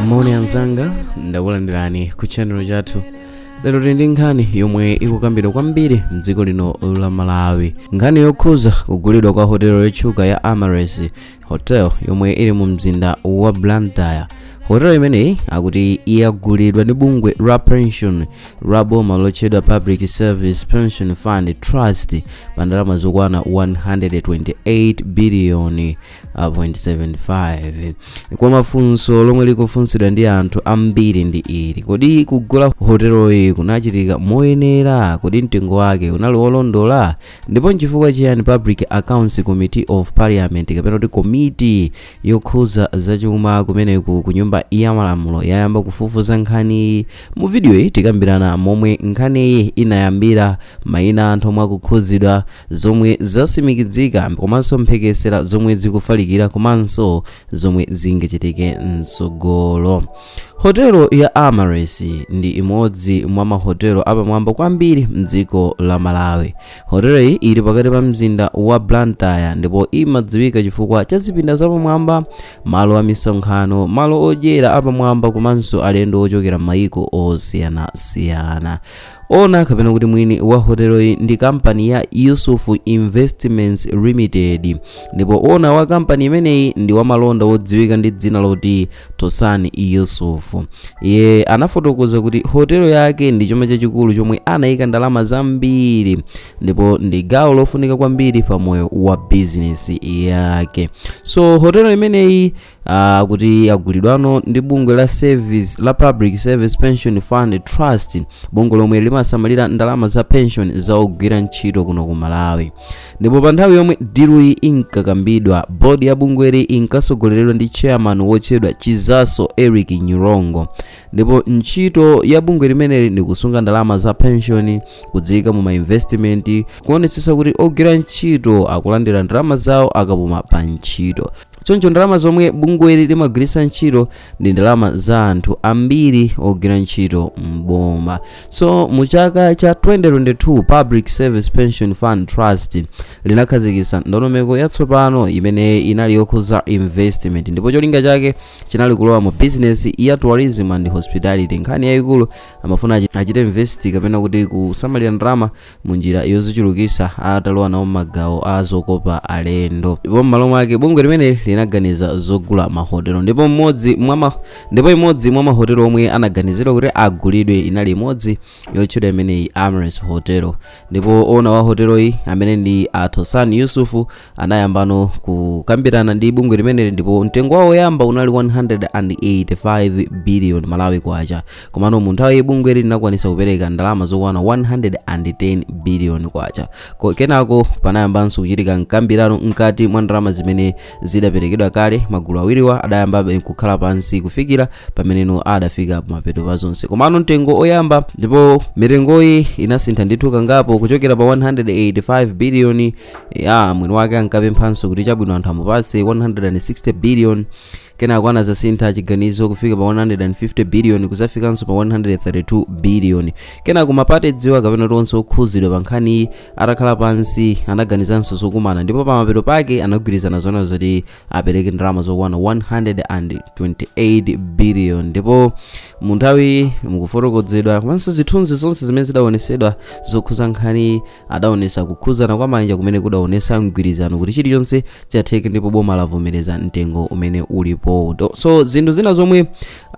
moni anzanga ndakulandirani ku channel chathu lero tili ndi nkhani yomwe ikukambidwa kwambiri mdziko lino la malawi nkhani yokhuza kugulidwa kwa hotelo yotchuka ya amaryllis hotel yomwe ili mu mzinda wa blantyre hotelo imeneyi akuti yagulidwa ndi bungwe la pension la boma lotchedwa public service pension fund trust pa ndalama zokwana 128 biliyoni 0.75 kwacha funso lomwe likufunsidwa ndi anthu ambiri ndi ili kodi kugula hoteloyi kunachitika moyenera kodi mtengo wake unali wolondola ndipo nchifukwa chiyani public accounts committee of parliament kapena kuti komiti yokhuza zachuma kumeneko ku nyumba ya malamulo yayamba kufufuza nkhaniyi Mu vidiyoyi tikambirana momwe nkhaniyi inayambira, mayina a anthu omwe akukhudzidwa, zomwe zasimikidzika komanso mphekesera zomwe zikufalikira komanso zomwe zingachitike mtsogolo. Hotelo ya Amaryllis ndi imodzi mwa mahotelo apamwamba kwambiri mdziko la Malawi. Hoteloyi ili pakati pa mzinda wa Blantyre ndipo imadziwika chifukwa cha zipinda zapamwamba malo a misonkhano malo odyera apamwamba komanso alendo ochokera m'mayiko osiyanasiyana owner kapena kuti mwini wa hoteloyi ndi kampani ya yusuf investments limited ndipo owner wa kampani imeneyi ndi wamalonda wodziwika ndi dzina loti tosani yusuf iye anafotokoza kuti hotelo yake ndi chuma chachikulu chomwe anayika ndalama zambiri ndipo ndi gawo lofunika kwambiri pa moyo wa bizinesi yake so hotelo imeneyi akuti yagulidwa no ndi bungwe la service la public service pension fund trust bungwe lomwe limasamalira ndalama za pension za ogwira ntchito kuno ku malawi ndipo pa nthawi yomwe diluyi inkakambidwa bodi ya bungweli inkasogoleredwa ndi chairman wotchedwa chizaso eric nyirongo ndipo ntchito ya bungwe limeneli ndi kusunga ndalama za pension kudziyika mu mainvestimenti kuonetsetsa kuti ogwira ntchito akulandira ndalama zawo akapuma pa ntchito choncho ndalama zomwe bungweli limagwiritsa ntchito ndi ndalama za anthu ambiri ogwira ntchito mboma so mu chaka cha 2022 public service pension fund trust linakhazikitsa ndondomeko yatsopano imene inali yokhudza investment ndipo cholinga chake chinali kulowa mu business ya tourism and hospitality nkhani yayikulu amafuna achi- achite invest kapena kuti kusamalira ndalama mu njira yozichulukisa atalowa nawo magawo a zokopa alendo ndipo m'malo mwake bungwe limeneli linaganiza zogula mahotelo ndipo mmodzi mwa ma- ndipo imodzi mwa mahotelo omwe anaganizidwa kuti agulidwe inali imodzi yotchedwa imeneyi amaryllis hotel ndipo owner wa hoteloyi amene ndi a tosani yusuf anayambano kukambirana ndi bungwe limeneli ndipo mtengo wawo woyamba unali 185 billion malawi kwacha komano mu nthawiyi bungwe ili linakwanisa kupereka ndalama zokwana 110 billion kwacha kenako panayambanso kuchitika mkambirano mkati mwa ndalama zimene zidaperekedwa kale magulu awiriwa adayambabe kukhala pansi kufikira pameneno adafika pamapeto pa zonse komano mtengo oyamba ndipo mitengoyi inasintha ndithu kangapo kuchokera pa 185 billion ya mwini wake ankapemphanso kuti chabwino anthu amupatse 160 billion kenako anazasintha chiganizo kufika pa 150 billion kuzafikanso pa 132 billion kenako mapate dziwa kapena kuti onse okhuzidwa pa nkhaniyi atakhala pansi anaganizanso zokumana ndipo pamapeto pake anagwirizana zona zoti apereke ndalama zokwana 128 billion ndipo mu nthawiyi mukufotokozedwa komanso zithunzi zonse zimene zidaonesedwa zokhuza nkhani adaonesa kukhuzana kwa manja kumene kudaonesa mgwirizano kuti chilichonse chatheka ndipo boma lavomereza mtengo umene ulipowu so zinthu zina zomwe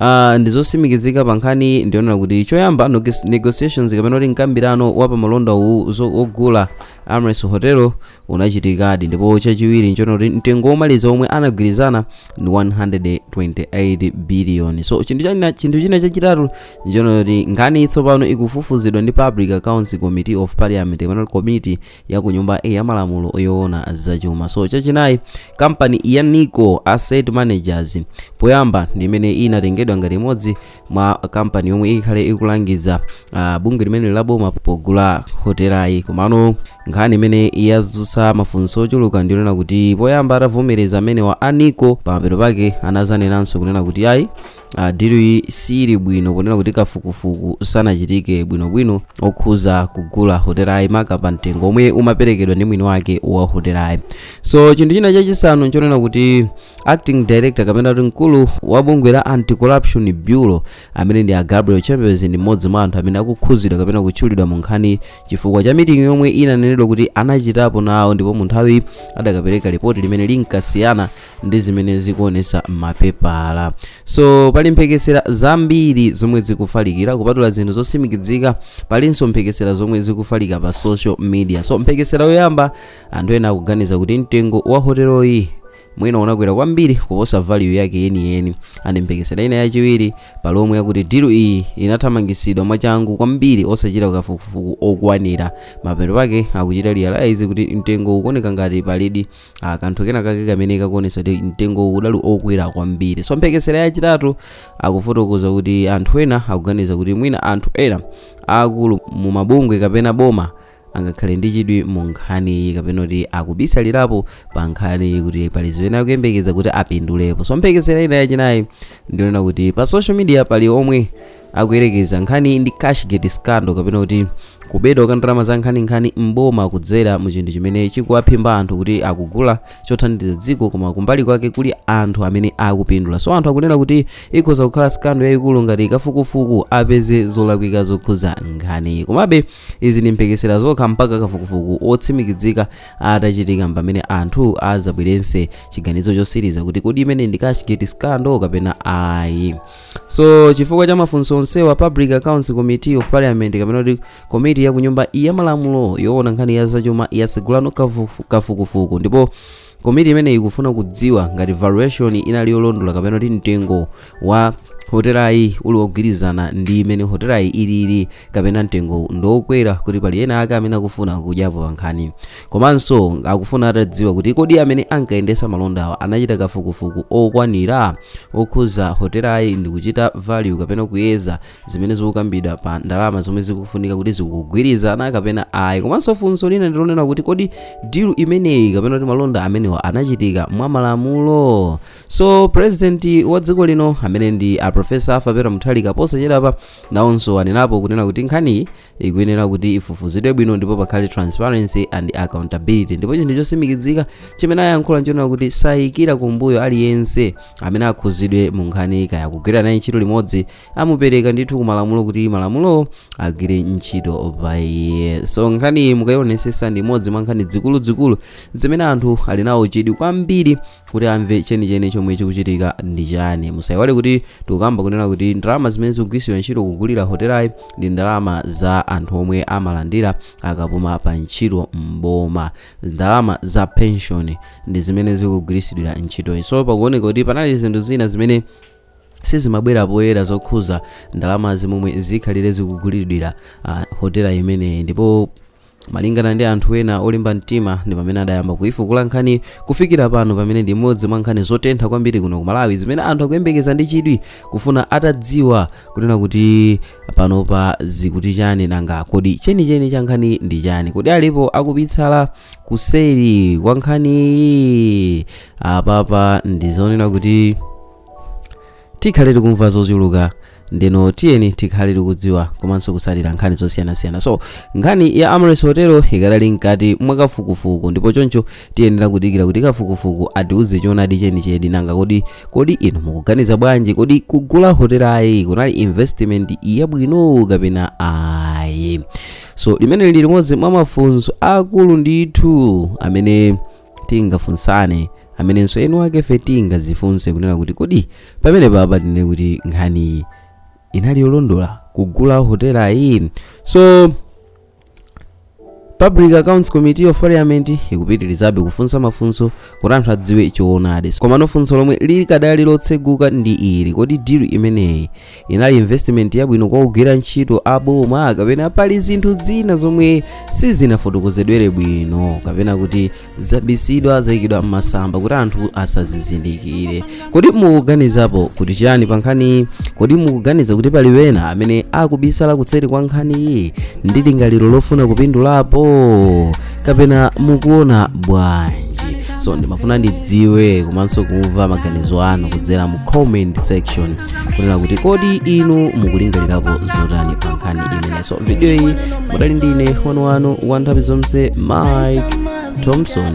uh, ndizosimikizika pa nkhaniyi ndi zonena kuti choyamba negotiations kapena kuti mkambirano wa pamalonda wogula amaryllis hotel unachitikadi ndipo chachiwiri nchonena kuti mtengo womaliza womwe anagwirizana ndi 128 billion so chinthu china chachitatu nchonena kuti nkhaniyi tsopano ikufufuzidwa ndi public accounts committee of parliament kapena komiti ya ku nyumba ya malamulo yoona zachuma so chachinayi kampani ya nico asset managers poyamba ndi imene inatengedwa ngati imodzi mwa kampani yomwe ikhale ikulangiza uh, bungwe limeneli la boma pogula hotelayi komano nkhani imene yazutsa mafunso ochuluka ndiyonena kuti poyamba atavomereza amenewa a nico pamapeto pake anazanenanso kunena kuti ayi Ah, dilu iyi sili bwino ponena kuti kafukufuku sanachitike bwinobwino okhuza kugula hotelayi maka pa mtengo omwe umaperekedwa ndi mwini wake wa hotelayi so chinthu china chachisanu nchonena kuti acting director kapena kuti mkulu wa bungwe la anti-corruption bureau amene ndi a gabriel chembezi ndi mmodzi mwa anthu amene akukhuzidwa kapena kutchulidwa mu nkhaniyi chifukwa cha mitingi yomwe inanenedwa kuti anachitapo nawo ndipo mu nthawiyi adakapereka ripoti limene linkasiyana ndi zimene zikuonesa m'mapepala so pali mphekesera zambiri zomwe zikufalikira kupatula zinthu zotsimikizika palinso mphekesera zomwe zikufalika pa social media so mphekesera yoyamba anthu ena akuganiza kuti mtengo wa hoteloyi mwina unakwera kwambiri kuposa value yake yeniyeni andi mphekesera ina yachiwiri pali omwe akuti dilu iyi inathamangisidwa mwachangu kwambiri osachita kafukufuku okwanira mapeto pake akuchita realize kuti mtengo ukuoneka ngati palidi ah, kanthu kena kake kamene kakuonesa kuti mtengo udali okwera kwambiri so mphekesera yachitatu akufotokoza kuti anthu ena akuganiza kuti mwina anthu ena akulu mu mabungwe kapena boma angakhale ndi chidwi mu nkhaniyi kapena kuti akubisalirapo pa nkhaniyi kuti pali zimene akuyembekeza kuti apindulepo so mphekesera ina yachinayi ndionena kuti pa social media pali omwe akuyerekeza nkhani ndi cashgate scandal kapena kuti kubedwa kwa ndalama za nkhaninkhani m'boma kudzera mu chinthu chimene chikuwaphimba anthu kuti akugula chothandiza dziko koma kumbali kwake kuli anthu amene akupindula so anthu akunena kuti ikhoza kukhala scandal yayikulu ngati kafukufuku apeze zolakwika zokhuza nkhani komabe izi ndi mphekesera zokha mpaka kafukufuku otsimikizika atachitika pamene anthu azabwerense chiganizo chosiriza kuti kodi imene ndi cashgate scandal kapena ayi so chifukwa cha mafunso onsewa public accounts committee of parliament kapena kuti komiti ya kunyumba ya malamulo yoona nkhani ya zachuma yasegulano kafukufuku ndipo komiti imeneyi ikufuna kudziwa ngati valuation inali yolondola kapena kuti mtengo wa hotelayi uli wogwirizana ndi imene hotelayi ilili kapena mtengo ndiokwera kuti pali ena ake amene akufuna kudyapo pankhani komanso akufuna atadziwa kuti kodi amene ankayendesa malondawa anachita kafukufuku okwanira okhuza hotelayi ndi kuchita value kapena kuyeza zimene zikukambidwa pa ndalama zomwe zikufunika kuti zikugwirizana kapena ayi komanso funso lina ndilonena kuti kodi dilu imeneyi kapena kuti malonda amenewa anachitika mwa malamulo so president wa dziko lino amene ndi a profesa Arthur Peter Mutharika posachedwapa nawonso anenapo kunena kuti nkhaniyi ikuyenera kuti ifufuzidwe bwino ndipo pakhale transparency and accountability ndipo chinthu chosimikizika chimene ayankhula nchonena kuti sayikira kumbuyo aliyense amene akhuzidwe mu nkhani kaya akugwira naye ntchito limodzi amupereka ndithu kumalamulo kuti malamulowo agwire ntchito pa iye so nkhaniyi mukayionesesa ndi imodzi mwa nkhani zikuluzikulu zimene anthu ali nawo chidwi kwambiri kuti amve chenicheni chomwe chikuchitika ndi chani musayiwale kuti tikukamba kunena kuti ndalama zimene zikugwiritsidwa ntchito kugulira hotelayi ndi ndalama za anthu omwe amalandira akapuma pa ntchito mboma ndalama za pension ndi zimene zikugwiritsidwira ntchitoyi so pakuoneka kuti panali zinthu zina zimene sizimabwera poyera zokhuza ndalamazi momwe zikhalire zikugulidwira uh, hotela imeneyi ndipo Malingana ndi anthu ena olimba mtima ndi pamene adayamba kuifukula nkhaniyi kufikira pano pamene ndi imodzi mwa nkhani zotentha kwambiri kuno ku Malawi zimene anthu akuyembekeza ndi chidwi kufuna atadziwa kunena kuti panopa zikuti chani nanga kodi chenicheni cha nkhani ndi chani kodi alipo akubisala kuseri kwa nkhaniyi apapa ndizonena kuti tikhale tikumva zochuluka ndeno tiyeni tikhale tikudziwa komanso kutsatira nkhani zosiyanasiyana so nkhani ya Amaryllis Hotel ikadali mkati mwa kafukufuku ndipo choncho tiyenera kudikira kuti kafukufuku atiuze choonadi chenicheni nanga kodi kodi inu mukuganiza bwanji kodi kugula hotelayi kunali investment yabwino kapena ayi so limeneli ndi limodzi mwa mafunso akulu ndithu amene tingafunsane amenenso eni wakefe tingadzifunse kunena kuti kodi pamene papa tinene kuti nkhaniyi inali yolondola kugula hotela iyi so public accounts committee of parliament ikupitirizabe kufunsa mafunso kuti anthu adziwe choonadi komano funso lomwe likadali lotseguka ndi ili kodi deal imeneyi inali investment yabwino kwa ogwira ntchito a boma kapena pali zinthu zina zomwe sizinafotokozedwere bwino kapena kuti zabisidwa zayikidwa m'masamba kuti anthu asazizindikire kodi mukuganizapo kuti chiyani pa nkhaniyi kodi mukuganiza kuti pali wina amene akubisala kutseri kwa nkhaniyi ndi lingaliro lofuna kupindulapo kapena mukuona bwanji so ndimafuna ndidziwe komanso kumva maganizo anu kudzera mu comment section kunena kuti kodi inu mukulingalirapo zotani pa nkhani imene so video iyi mudali ndine wanu wanu wa nthawi zonse mike thompson